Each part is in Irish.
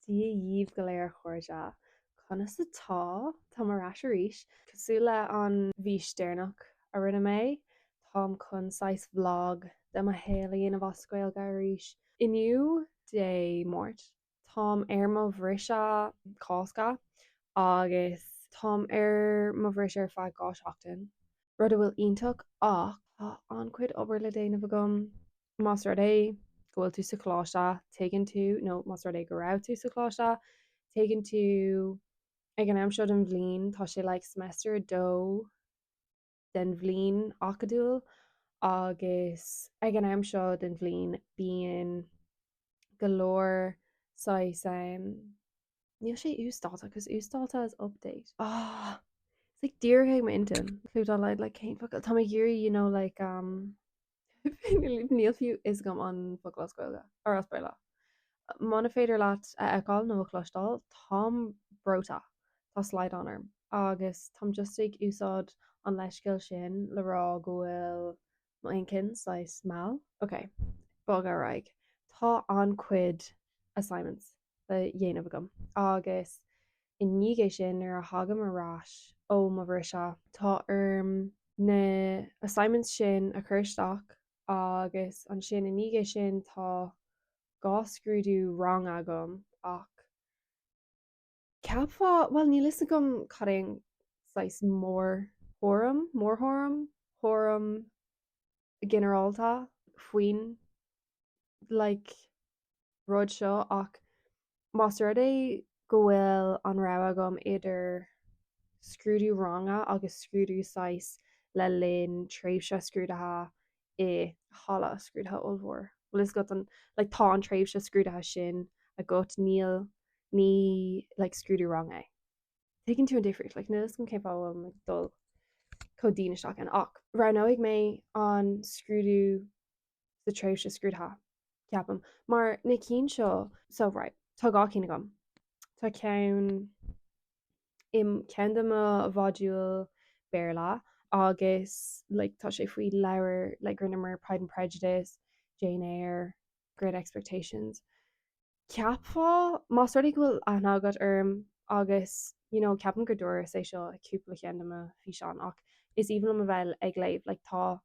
Dia dhíbh go léir a chairde. Conas atá? Táim ar ais arís. Cosúil le an bhfís deireanach a rinne mé, táim chun saghas vlog de mo shaol, a dhéanamh as Gaeilge arís. Inniu Dé Máirt. Táim ar mo bhriseadh Cásca agus táim ar mo bhriseadh ar feadh dhá seachtain, rud a bhfuil iontach ach tá an-chuid obair le déanamh agam. Más rud é go bhfuil tú sa choláiste, tuigeann tú, nó más rud é go raibh tú sa choláiste, tuigeann tú ag an am seo den bhliain, tá sé like semester 2 den bhliain acadúil agus ag an am seo den bhliain bíonn go leor saghas em níl sé uasdátú 'cause uasdátú is update oh it's like díreach ag m'inchinn clúdach le like cén focal, tá mé ag iarraidh you know like em. Níl fiú 'fhios agam an focal as Gaeilge, or as Béarla. Muna féidir leat a fheiceáil nó a chloisteáil, táim breoite, tá slaghdán orm, agus táim just ag úsáid an leithscéal sin le rá go bhfuil m'inchinn saghas mall. Ok, ag bogadh ar aghaidh, tá an-chuid assignments. le dhéanamh agam agus i ndiaidh é sin nuair a thagaim ar ais ó mo bhriseadh, tá orm na assignments sin a chur isteach agus ansin i ndiaidh é sin tá dhá scrúdú ranga agam ach cheapfá, bhuel níl 'fhios agam cad é an saghas mórthuairim, mórthuairim, thuairim ginearálta faoin like. rud seo ach más rud é go bhfuil an rogha agam idir scrúdú ranga agus scrúdú saghas le linn tréimhse scrúdaithe i halla scrúdaithe ollmhór, bhuel is agat an, like tá an tréimhse scrúdaithe sin agat, níl, ní like scrúdú ranga é. Tuigeann tú an difríocht? Like níl 'fhios agam cén fáth a bhfuil mé ag dul chomh domhain isteach ann ach roghnódh mé an scrúdú sa tréimhse scrúdaithe, ceapaim, mar na cinn seo, so right, tá dhá cinn agam. Tá ceann i gceann de mo mhodúil Béarla agus like tá sé faoi leabhar like rinneamar Pride and Prejudice, Jane Eyre, Great Expectations. Cheapfá, más rud é go bhfuil aithne agat orm, agus, you know, ceapaim gur dúras é seo i cúpla cheann de mo físeáin, ach is aoibhinn liom a bheith ag léamh, like tá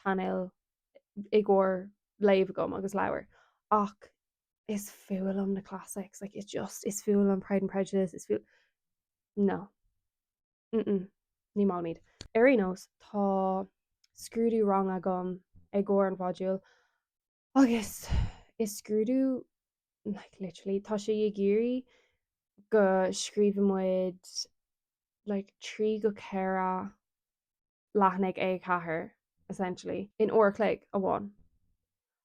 cainéal i gcomhair léamh agam agus leabhair, ach is fuath liom na classics, like it's just, is fuath liom Pride and Prejudice, is fuath, no, mm-mm, ní maith liom iad. Ar aon nós, tá scrúdú ranga agam i gcomhair an mhodúil, Agus is scrúdú, like, literally, tá sé ag iarraidh go scríobhann muid, like, trí go ceithre leathanaigh A4, essentially, in uair a chloig amháin.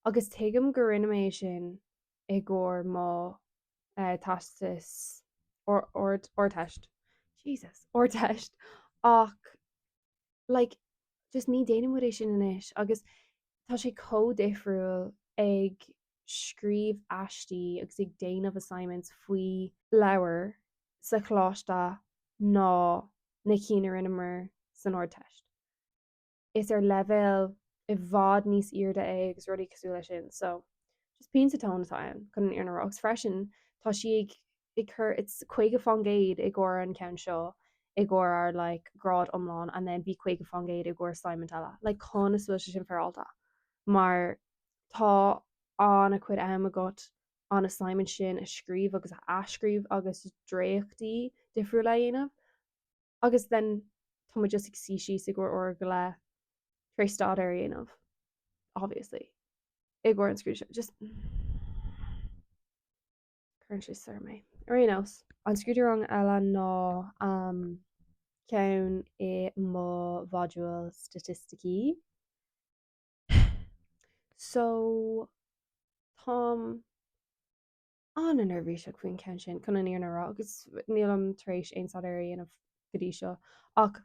Agus tuigim go rinne mé é sin i gcomhair mo theastas Ardteist, Jesus, Ardteist, ach like, just ní déanann muid é sin anois agus tá sé chomh difriúil ag scríobh aistí agus ag déanamh assignments faoi leabhair sa choláiste ná na cinn a rinneamar san Ardteist. Is ar leibhéal i bhfad níos airde é agus rudaí cosúil leis sin. So, just pian sa tóin atá ann chun an fhírinne a rá agus freisin tá sí ag. ag cur it's 50 fán gcéad i gcomhair an ceann seo i gcomhair ár like grád iomlán and then bí 50 fán gcéad i gcomhair assignment eile like conas a bhfuil sé sin féaráilte mar tá an-chuid am agat an assignment sin a scríobh agus a athscríobh agus dréachtaí difriúla a dhéanamh agus then tá muid just ag suí síos i gcomhair uair go leith tar éis staidéar a dhéanamh obviously i gcomhair an scrúdú seo just. Cuireann sé soir mé, ar aon nós. An scrúdú ranga eile ná ceann i mo mhodúl staitisticí. So, táim an-neirbhíseach faoin gceann sin, chun an fhírinne a rá, agus nílim tar éis aon staidéar a dhéanamh go dtí seo, ach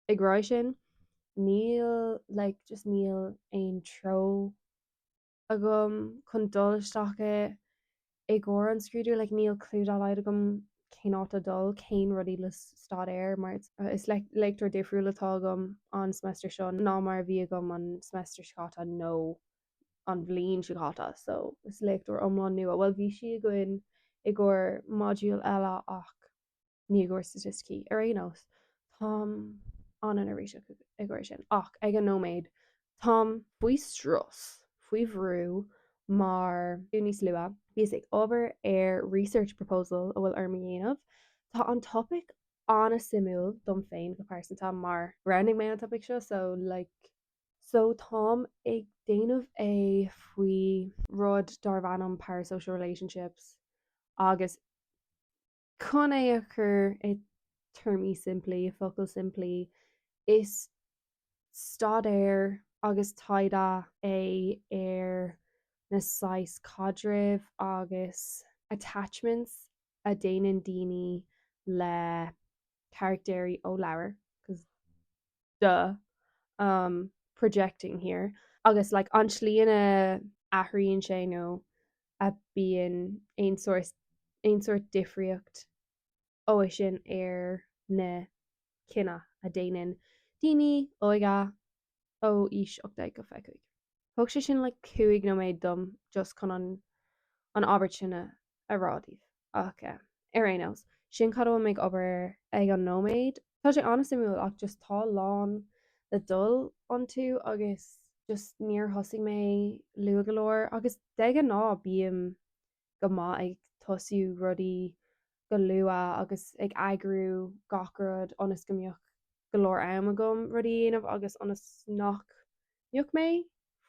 ag rá é sin, níl, like, just níl aon treo. agam chun dul isteach i i gcomhair an scrúdú, like níl clue dá laghad agam cén áit le dul, cén rudaí le staidéar mar is léachtóir difriúil atá agam an semester seo ná mar a bhí agam an semester seo caite nó an bhliain seo caite so is léachtóir iomlán nua, bhuel bhí sí againn i gcomhair modúl eile ach. ní i gcomhair staitisticí ar aon nós, táim an-neirbhíseach i gcomhair sin, ach ag an nóiméad táim faoi strus, faoi bhrú, mar fiú níos luaithe bhíos ag obair ar research proposal a bhfuil orm a dhéanamh, tá an topaic an-suimiúil dom féin go pearsanta mar roghnaigh mé an topaic seo so like táim ag déanamh é faoi rud darbh ainm parasocial relationships agus. Chun é a chur i téarmaí simplí, i bhfocail simplí, is staidéar agus taighde é ar na saghas caidrimh agus attachments a déanann daoine le carachtéirí ó leabhair, 'cause dom, projecting here, agus like an tslí ina athraíonn sé nó a bíonn aon sórt, aon sórt difríocht ó sin ar na cinneadh a déanann daoine óga ó aois ocht déag go fiche cúig. Thóg sé sin like cúig nóiméad dom just chun an, an abairt sin a, a rá daoibh. Okay, ar aon nós, sin cad a bhfuil mé ag obair air ag an nóiméad. Tá sé an-suimiúil ach just tá a lán le dul iontu agus just níor thosaigh mé luath go leor agus de ghnáth bím go maith ag tosú rudaí go luath agus ag eagrú gach rud ionas go mbeadh go leor am agam rudaí a dhéanamh agus ionas nach mbeadh mé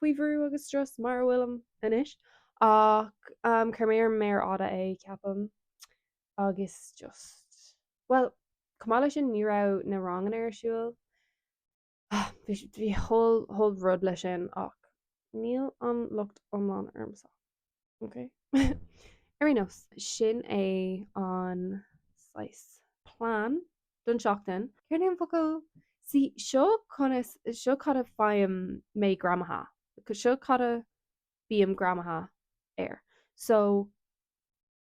faoi bhrú agus strus mar a bhfuilim anois, ach chuir mé ar an méar fhada é, ceapaim, agus just. bhuel, chomh maith le sin, ní raibh na ranganna ar siúl. Bhí whole, whole rud le sin, ach níl an locht iomlán ormsa. Ok. Ar aon nós, sin é an saghas plean don tseachtain. Cén focal? See, seo conas, seo cad a faighim mé greamaithe, seo cad a bím greamaithe air. So,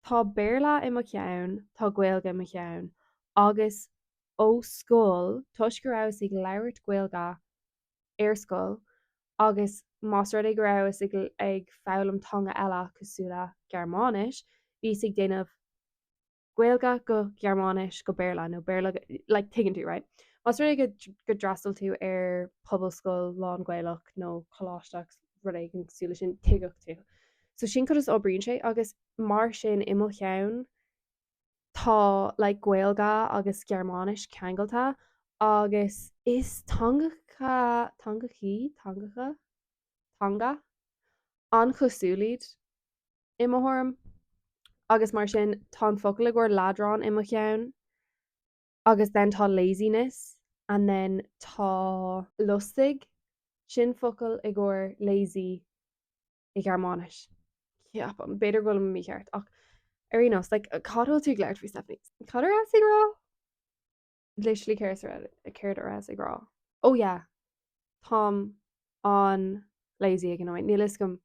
tá Béarla i mo cheann, tá Gaeilge i mo cheann, agus ó scoil, toisc go rabhas ag labhairt Gaeilge ar scoil agus más rud é go rabhas ag foghlaim teanga eile cosúil le Gearmáinis, bhíos ag déanamh Gaeilge go Gearmáinis go Béarla nó Béarla go, like, tuigeann tú, right? Más rud é go d'fhreastail tú ar pobalscoil lán-Ghaelach nó coláisteach, rud éigin cosúil le sin, tuigfidh tú. So sin conas a oibríonn sé agus mar sin i mo cheann, tá like Gaeilge agus Gearmáinis ceangailte agus is teangacha, teangachaí, teangacha? teanga? an-chosúil iad, i mo thuairim, agus mar sin tá an focal i gcomhair leadrán i mo cheann agus then tá laziness and then tá. lustig, sin focal i gcomhair lazy i nGearmáinis. Ceapaim, b'fhéidir go bhfuilim mícheart ach ar aon nós, like, cad atá tú ag labhairt faoi Stephanie? Cad a raibh sí ag rá? Literally céard a raibh sí ag rá? Oh yeah, táim an-lazy ag an nóiméad, níl a fhios agam,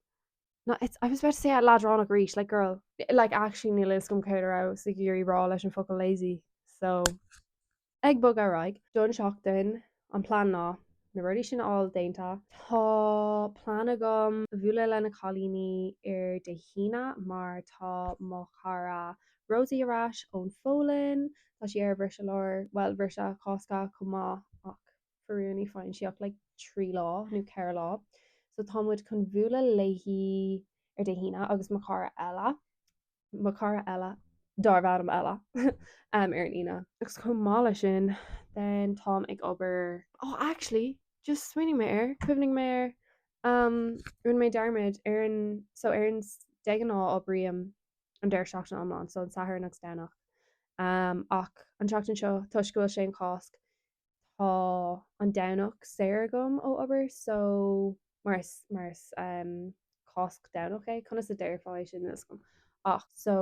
no, it's, I was about to say leadránach arís, like girl, like actually níl a fhios agam céard a raibh sí ag iarraidh rá leis an focal lazy, so. Ag bogadh ar aghaidh don tseachtain, an plean ná na rudaí sin a fháil déanta. Tá plean agam bualadh le na cailíní ar Dé hAoine mar tá mo chara Rosie ar ais ón Phólainn, tá sí ar bhriseadh lár, bhuel briseadh Cásca chomh maith ach faraor faigheann sí ach like trí lá nó ceithre lá so tá muid chun bualadh léi ar Dé hAoine agus mo chara eile. mo chara eile darb ainm Ella ar an Aoine. Agus chomh maith leis sin then táim ag obair, oh actually just smaoinigh mé air, chuimhnigh mé air, rinne mé dearmad ar an, so ar an, de ghnáth oibrím an deireadh seachtaine iomlán so an Satharn agus Domhnach ach an tseachtain seo toisc go bhfuil sé an Cháisc tá an Domhnach saor agam ó obair so mar is, mar is ehm Cásc Domhnach é, conas a déarfá é sin níl 'fhios agam ach so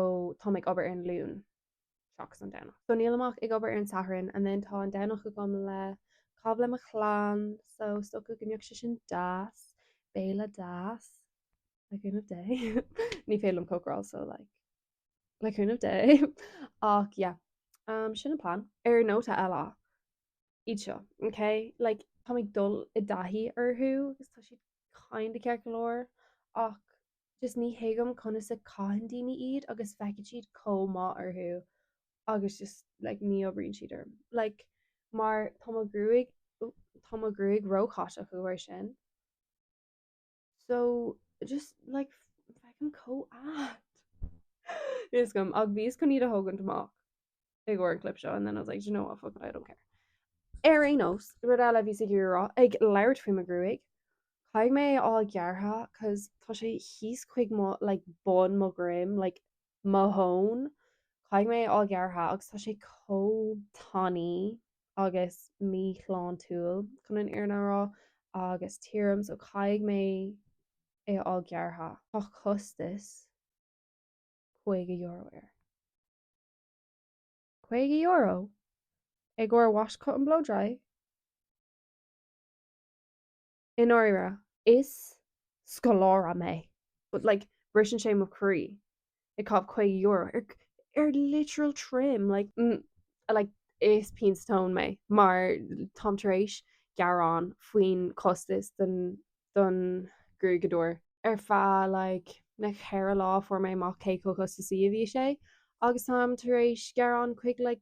táim ag obair ar an Luan seachas an Domhnach so nílim ach ag obair ar an Satharn and then tá an Domhnach agam le caitheamh le mo chlann so is dócha go mbeadh sé sin deas, béile deas le cúnamh Dé ní féidir liom cócaráil so like. le cúnamh Dé ach yeah umm sin an plean. Ar nóta eile, iad seo, ok, like táim ag dul i dtaithí orthu agus tá siad kinda ceart go leor ach just ní thuigim conas a chaitheann daoine iad agus feiceann siad chomh maith orthu agus just like ní oibríonn siad orm. Like mar tá mo ghruaig, tá mo ghruaig róchatach i gcomhair sin. So, just, like, feicim chomh ait. Níl a fhios agam, ach bhíos chun iad a thógaint amach i gcomhair an clip seo and then I was like, do you know what, fuck it, I don't care. Ar aon nós, rud eile a bhíos ag iarraidh rá, ag labhairt faoi mo ghruaig, caithfidh mé é a fháil gearrtha cause tá sé thíos chuig mo, like, bun mo dhroim, like, mo thóin, caithfidh mé é a fháil gearrtha agus tá sé chomh tanaí agus míshláintiúil, chun an fhírinne a rá, agus tirim, so caithfidh mé é a fháil gearrtha. Tá costas €50 air. €50? I gcomhair wash, cut and blow dry? I ndáiríre, is scoláire mé, but like briseann sé mo chroí ag caitheamh caoga euro ar, ar literal trim, like mm like is pian sa tóin mé mar táim tar éis gearán faoin costas don, don ghruaigeadóir ar feadh like na ceithre lá a fuair mé amach cé chomh costasaí a bhí sé agus táim tar éis gearán chuig like,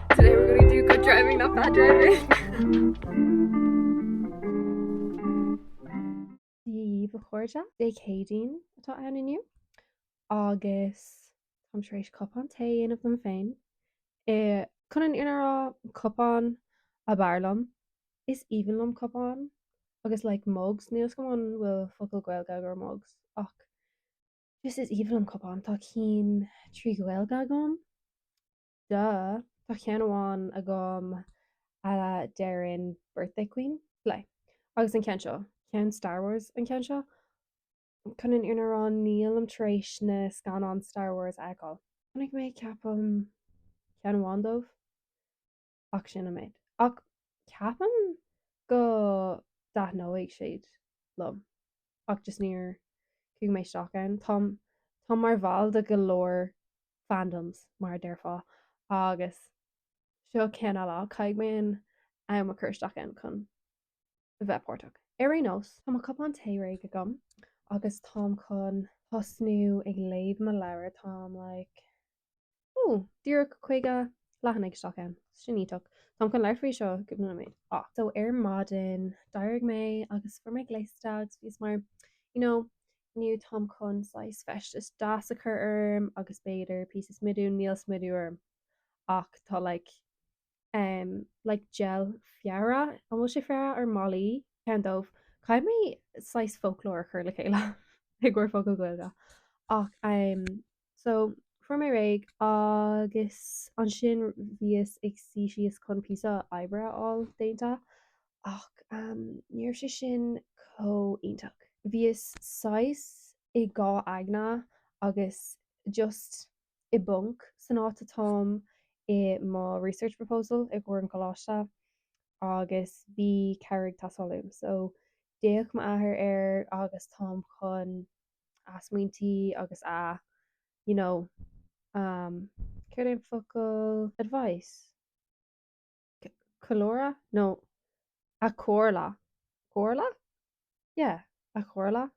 Today we're gonna do good driving, not bad driving. Dia daoibh a chairde, Dé Céadaoin atá ann inniu agus táim tar éis cupán tae a dhéanamh dom féin. Eh, chun an fhírinne a rá, cupán ab fhearr liom. Is aoibhinn liom cupáin agus like mugs, níl a fhios agam an bhfuil focal Gaeilge ar mugs ach just is aoibhinn liom cupán. Tá cinn trí Ghaeilge agam. Duh! Tá ceann amháin agam a deireann Birthday Queen. Slay. Agus an ceann seo. Ceann Star Wars an ceann seo. Chun an fhírinne a rá, nílim tar éis na scannáin Star Wars a fheiceáil. Chonaic mé, ceapaim, ceann amháin díobh, ach sin an méid. Ach ceapaim go dtaitneoidh siad liom, ach just níor chuaigh mé isteach ann. Táim, táim mar bhall de go leor fandoms, mar a déarfá, agus seo ceann eile, caithfidh mé an am a chur isteach ann chun a bheith páirteach. Ar aon nós, tá mo chupán tae réidh agam agus táim chun tosnú ag léamh mo leabhar, táim like, oh, díreach 50 leathanach isteach ann, sin iontach. Táim chun labhairt faoi seo i gceann nóiméad ach, so ar maidin d'éirigh mé agus fuair mé gléasta agus bhíos mar, you know, inniu táim chun saghas feistis deas a chur orm agus b'fhéidir píosa smidiú, níl smidiú orm ach tá like em like gel fabhra, an bhfuil sé fabhra? or malaí, ceann díobh, caithfidh mé saghas foclóir a chur le chéile i gcomhair focail Ghaeilge ach em. So, fuair mé réidh agus ansin bhíos ag suí síos chun píosa oibre a fháil déanta ach ehm, ní raibh sé sin chomh iontach. Bhíos saghas i dhá aigne agus just i bponc san áit atáim i mo research proposal i gcomhair an choláiste agus bhí cabhair ag teastáil uaim so d'fhéach m'athair air agus táim chun a smaointí agus a you know um céard é an focal advice? Comhlúra? Nó, a comhairle. Comhairle? Yeah, a chomhairle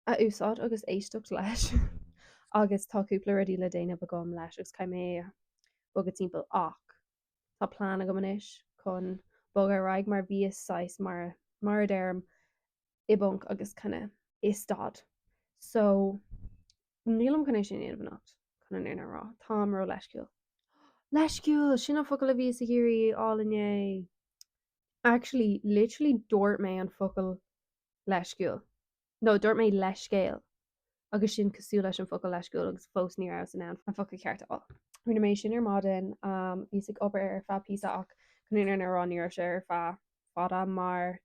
a úsáid agus éisteacht leis agus tá cúpla rudaí le déanamh agam leis agus caithfidh mé bogadh timpeall ach tá plean agam anois chun bogadh ar aghaidh mar bhíos saghas mar mar a deirim i bponc agus kind of i stad so nílim chun é sin a dhéanamh anocht chun an fhírinne a rá. Táim ró leisciúil. Leisciúil! Sin an focal a bhíos ag iarraidh a fháil inné. Actually, literally dúirt mé an focal leisciúil, no dúirt mé leithscéal agus sin cosúil leis an focal leisciúil agus fós ní rabhas in ann an focal ceart a fháil. Rinne mé sin ar maidin, bhíos ag obair ar feadh píosa ach chun an fhírinne a rá ní raibh sé ar feadh fada mar,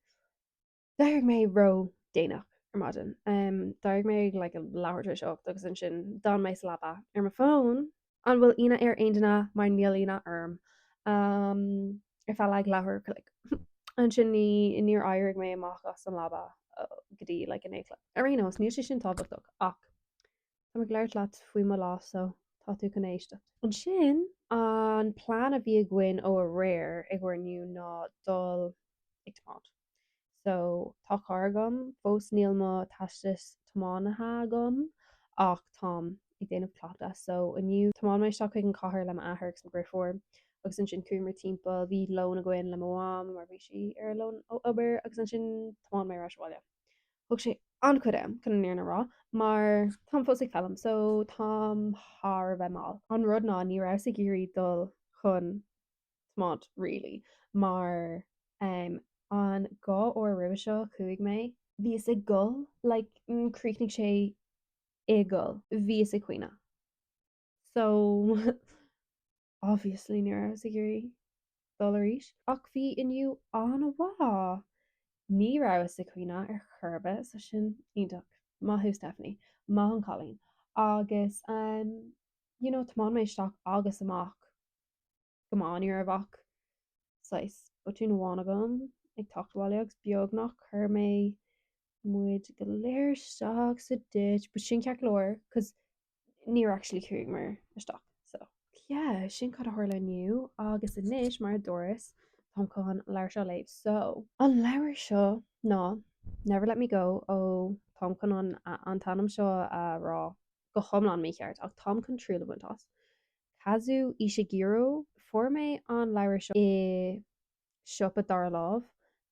d'éirigh mé ró déanach ar maidin. D'éirigh mé ag like a leathuair tar éis a hocht agus ansin d'fhan mé sa leaba ar mo fón, an bhfuil ionadh ar aon duine mar níl ionadh orm, ar feadh like leathuair a chloig. Ansin ní, níor éirigh mé amach as an leaba go dtí like a naoi a chlog. Ar aon nós, níl sé sin tábhachtach ach tá mé ag labhairt leat faoi mo lá so tá tú chun éisteacht. Ansin an plean a bhí againn ó aréir go dtí inniu ná dul ag tiomáint. so tá carr agam, fós níl mo teastas tiománaithe agam ach táim ag déanamh cleachtaidh. So inniu thiomáin mé isteach chuig an chathair le m'athair agus mo dheirfiúr agus ansin chuamar timpeall, bhí lón againn le mo mham mar bhí sí ar a lón ó obair agus ansin thiomáin mé ar ais abhaile. Thóg sé an-chuid am chun an fhírinne a rá mar táim fós ag foghlaim so táim thar a bheith mall. An rud ná ní rabhas ag iarraidh dul chun tiomáint, really, mar ehm, an dhá uair roimhe seo, chuaigh mé. bhíos ag gol, like, mm, chríochnaigh sé i gol, bhíos ag caoineadh. So, obviously, ní rabhas ag iarraidh dul arís. Ach bhí inniu an-mhaith. Ní rabhas ag caoineadh ar chor ar bith, so sin iontach. Maith thú, Stephanie. Maith an cailín. Agus, ehm, you know, thiomáin mé isteach agus amach go maith, ní raibh ach saghas botún amháin agam ag teacht abhaile agus beag nach chuir mé muid go léir isteach sa ditch but sin ceart go leor cause níor actually chuamar isteach so yeah, sin cad a tharla inniu agus anois mar a dúras táim chun leabhar seo a léamh so an leabhar seo ná Never Let Me Go ó táim chun an an t-ainm seo a rá go hiomlán mícheart ach táim chun triail a bhaint as Kazu Ishiguro. Fuair mé an leabhar seo i siopa dara lámh,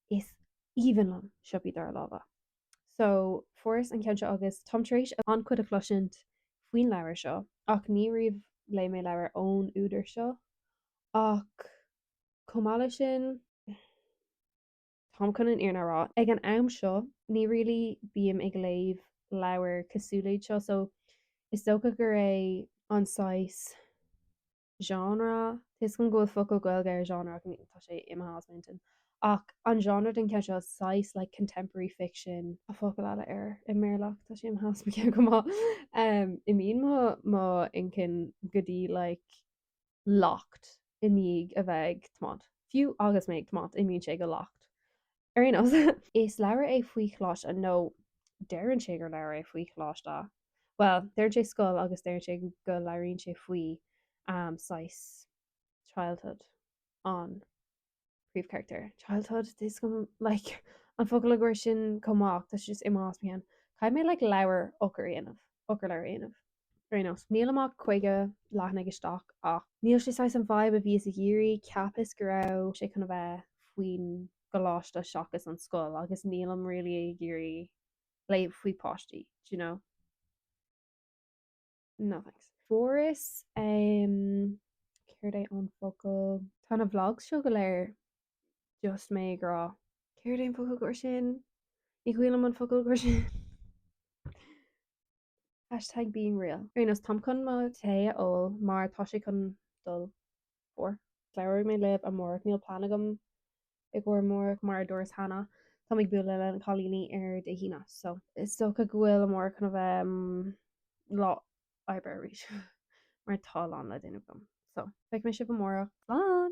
is aoibhinn liom siopaí dara láimhe, so fuaireas an ceann seo agus táim tar éis an-chuid a chloisint faoin leabhar seo ach ní riamh léigh mé leabhar ón údar seo ach chomh maith le sin, Táim chun an fhírinne a rá, ag an am seo ní really bím ag léamh leabhair cosúil le iad seo so is dócha gur é an saghas genre, tá a fhios agam go bhfuil focal Gaeilge ar genre ach tá sé imithe as m'intinn, ach an genre den cheann seo saghas like contemporary fiction, tá focal eile air i mBéarla ach tá sé imithe as mo cheann chomh maith, imíonn mo inchinn go dtí like. leacht i ndiaidh a bheith ag tiomáint. Fiú agus mé ag tiomáint, imíonn sé go leacht. Ar aon nós. Is leabhar é faoi choláiste, nó deireann sé gur leabhar é faoi choláiste. Bhuel, deireann sé scoil agus deireann sé go labhraíonn sé faoi saghas childhood an. príomhcharachtair. Childhood tá a fhios agam like an focal i gcomhair sin chomh maith ach tá sé just imithe as mo cheann. Caithfidh mé like leabhar eochair a dhéanamh, eochairleabhar a dhéanamh. Ar aon nós, nílim ach caoga leathanaigh isteach ach níl sé saghas an vibe a bhíos ag iarraidh, cheapas go raibh sé chun a bheith faoin gcoláiste seachas an scoil agus nílim really ag iarraidh léamh faoi páistí, d'you know? no thanks. Fuaireas em céard é an focal? Tá na vlogs seo go léir just mé ag rá Céard é an focal i gcomhair sin? Ní cuimhin liom an focal i gcomhair sin! Hashtag being real. Ar aon nós táim chun mo tae a ól mar tá sé chun dul. fuar. Labhróidh mé libh amárach, níl plean agam i gcomhair amárach, mar a dúras cheana, táim ag bualadh le na cailíní ar Dé hAoine, so. is dócha go bhfuil amárach chun a bheith lá oibre arís, mar tá a lán le déanamh agam, so, feicfidh mé sibh amárach, slán!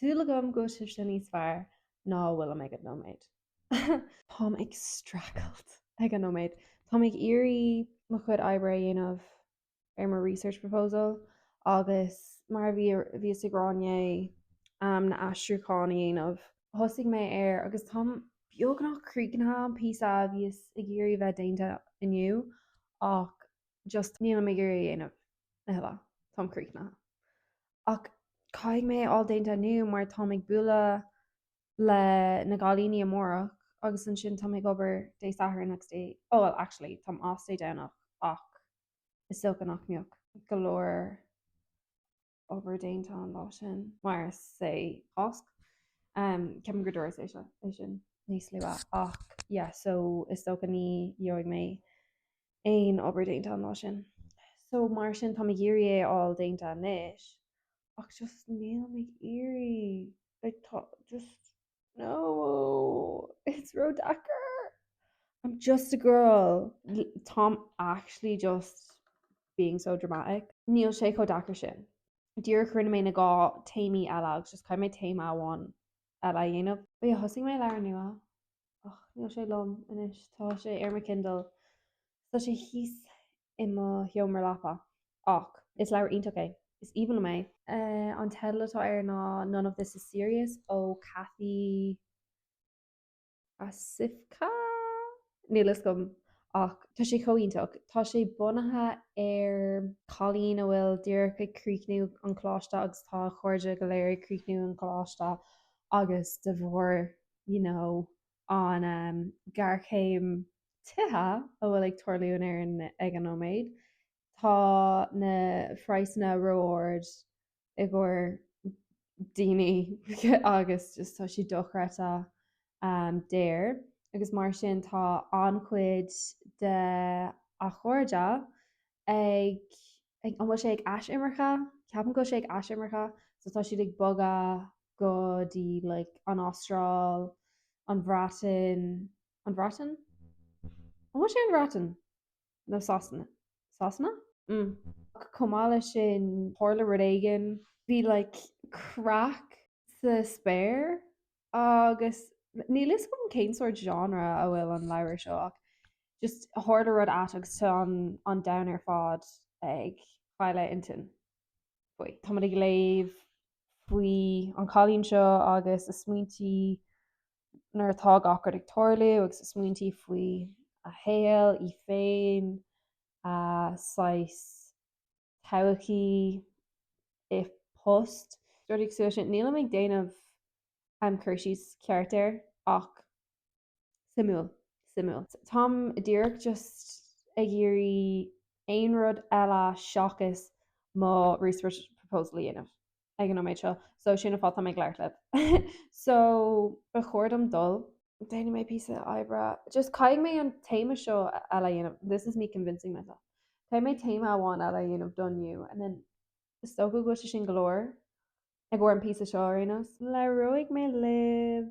Súil agam go bhfuil sibhse níos fearr ná a bhfuilim ag an nóiméad. Táim ag streachailt ag an nóiméad. Táim ag iarraidh mo chuid oibre a dhéanamh ar mo research proposal agus mar a bhíos ag rá inné, am na aistriúcháin a dhéanamh. Thosaigh mé air agus táim beagnach críochnaithe an píosa a bhíos ag iarraidh a bheith déanta inniu ach just nílim ag iarraidh a dhéanamh a thuilleadh. Táim críochnaithe. Ach caithfidh mé é a fháil déanta inniu mar táim ag bualadh le na gcailíní amárach agus ansin táim ag obair Dé Sathairn agus Dé, oh well actually táim as Dé Domhnach ach is dócha nach mbeadh go leor obair déanta an lá sin mar is é Cásc, em ceapaim gur dúras é sin níos luath ach yeah so is dócha ní gheobhaidh mé aon obair déanta an lá sin so mar sin táim ag iarraidh é a fháil déanta anois ach just nílim ag iarraidh like just no it's ró deacair I'm just a girl táim actually just being so dramatic níl sé chomh deacair sin díreach rinne mé na dhá téamaí eile agus just caithfidh mé téama amháin eile a dhéanamh but yeah thosaigh mé leabhar nua Ach níl sé liom anois, tá sé ar mo Kindle. Tá sé thíos i mo sheomra leapa. Ach is leabhar iontach é. Is aoibhinn liom é. An teideal atá air ná None of This is Serious ó Kathy Prasifka? Níl fhios agam ach tá sé chomh iontach. Tá sé bunaithe ar chailín a bhfuil díreach ag críochnú an choláiste agus tá a chairde go léir ag críochnú an choláiste agus de bharr you know an ehm géarchéim tithe a bhfuil ag tarlú in Éirinn ag an nóiméad, tá na phraghsanna ró-ard i gcomhair daoine agus just tá siad dochreidte ehm daor agus mar sin tá an-chuid de a chairde ag you ag, an bhfuil sé ag eisimirce? Ceapaim go bhfuil sé ag eisimirce so tá siad ag bogadh go dtí like an Astráil, an Bhreatain, an Bhreatain? An bhfuil sé an Bhreatain? Nó Sasana? Sasana? mm ach chomh maith leis sin tharla rud éigin, bhí like crack sa spéir agus níl fhios agam cén sórt genre a bhfuil an leabhar seo ach just tharla rud ait agus tá an, an domhan ar fad ag cailleadh intinn faoi. Tá muid ag léamh faoi an cailín seo agus a smaointí nuair atá gach rud ag tarlú agus a smaointí faoi a shaol, í féin, a saghas. todhchaí a post, rudaí cosúil leis sin, nílim ag déanamh cur síos ceart air ach suimiúil, suimiúil. Táim díreach just ag iarraidh aon rud eile seachas mo research proposal a dhéanamh. ag an nóiméad seo so sin an fáth táim ag labhairt libh so ba chóir dom dul déanfaidh mé píosa oibre just caithfidh mé an téama seo eile a dhéanamh this is me convincing myself caithfidh mé téama amháin eile a dhéanamh inniu and then is dócha go bhfuil sé sin go leor oibre an píosa seo ar aon nós. Labhróidh mé libh.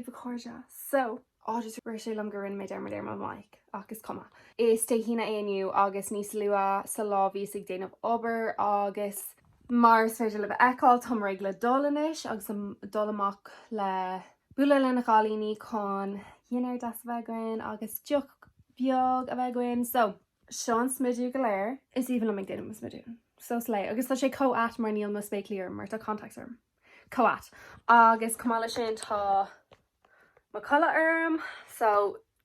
daoibh a chairde. So, actually rith sé liom gur rinne mé dearmad ar mo mhic, ach is cuma. Is Dé hAoine é inniu agus níos luath sa lá bhíos ag déanamh obair agus. Mar is féidir libh a fheiceáil táim réidh le dul anois agus dul amach le. bualadh leis na cailíní chun dinnéar deas a bheith againn agus deoch bheag a bheith againn so, seo an smideadh go léir. is aoibhinn liom ag déanamh mo smideadh so slay agus tá sé comh ait mar níl mo spéaclaí orm mar tá contacts orm comh ait agus comh maith le sin tá mo culaith orm so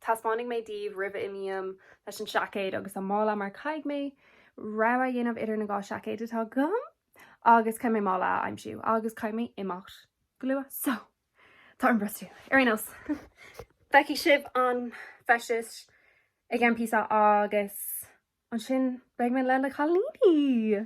taispeánfaidh mé daoibh roimh a n-imím leis an seaicéad agus an mála mar caithfidh mé rogha a dhéanamh idir na dhá seaicéad atá agam. agus caithfidh mé mála a aimsiú agus caithfidh mé imeacht go luath so tá orm brostú! Ar aon nós, feicfidh sibh an feisteas i gceann píosa agus ansin beidh mé le na cailíní!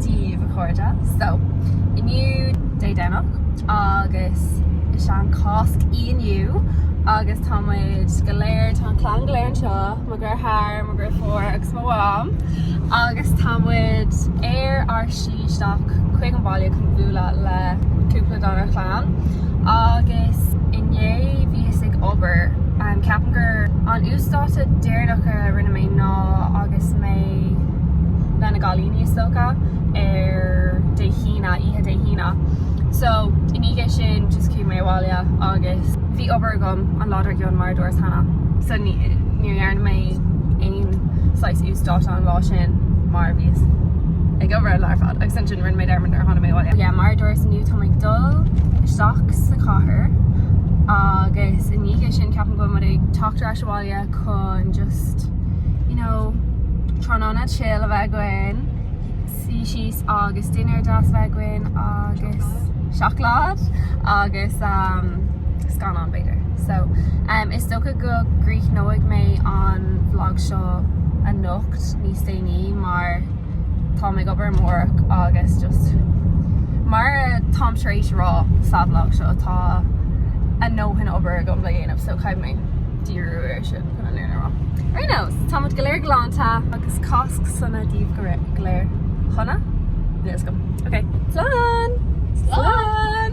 Daoibh, a chairde. So, inniu Dé Domhnach agus is é an Cásc í inniu agus tá muid go léir, tá an chlann go léir anseo. mo dheartháir, mo dheirfiúr agus mo mham agus tá muid ar ár slí isteach chuig an bhaile chun bualadh le cúpla den chlann agus inné bhíos ag obair, ceapaim gur an uasdáta deireanach a rinne mé ná agus mé le na gcailíní is dócha ar Dé hAoine, oíche Dé hAoine so i ndiaidh sin just chuaigh mé abhaile agus. Bhí obair agam an lá dár gcionn, mar a dúras cheana, so níor dhearna mé aon saghas uasdáta an lá sin mar bhíos ag obair an lá ar fad, agus ansin rinne mé dearmad nuair a tháinig mé abhaile. Yeah, mar a dúras inniu, tá mé ag dul isteach sa chathair agus i ndiaidh sin ceapaim go bhfuil muid ag teacht ar ais abhaile chun just, you know, tráthnóna chill a bheith againn. suí síos agus dinnéar deas againn agus seacláid agus scannán b'fhéidir so is dócha go gcríochnóidh mé an vlog seo anocht níos déanaí mar táim ag obair amárach agus just mar a táim tar éis rá sa vlog seo tá a dhóthain obair agam le dhéanamh so caithfidh mé díriú ar sin chun an fhírinne a rá. Who knows? Táimid go léir galánta. Agus Cáisc sona daoibh go léir. Shona? Níl 's agam. Ok. Slán! Slán!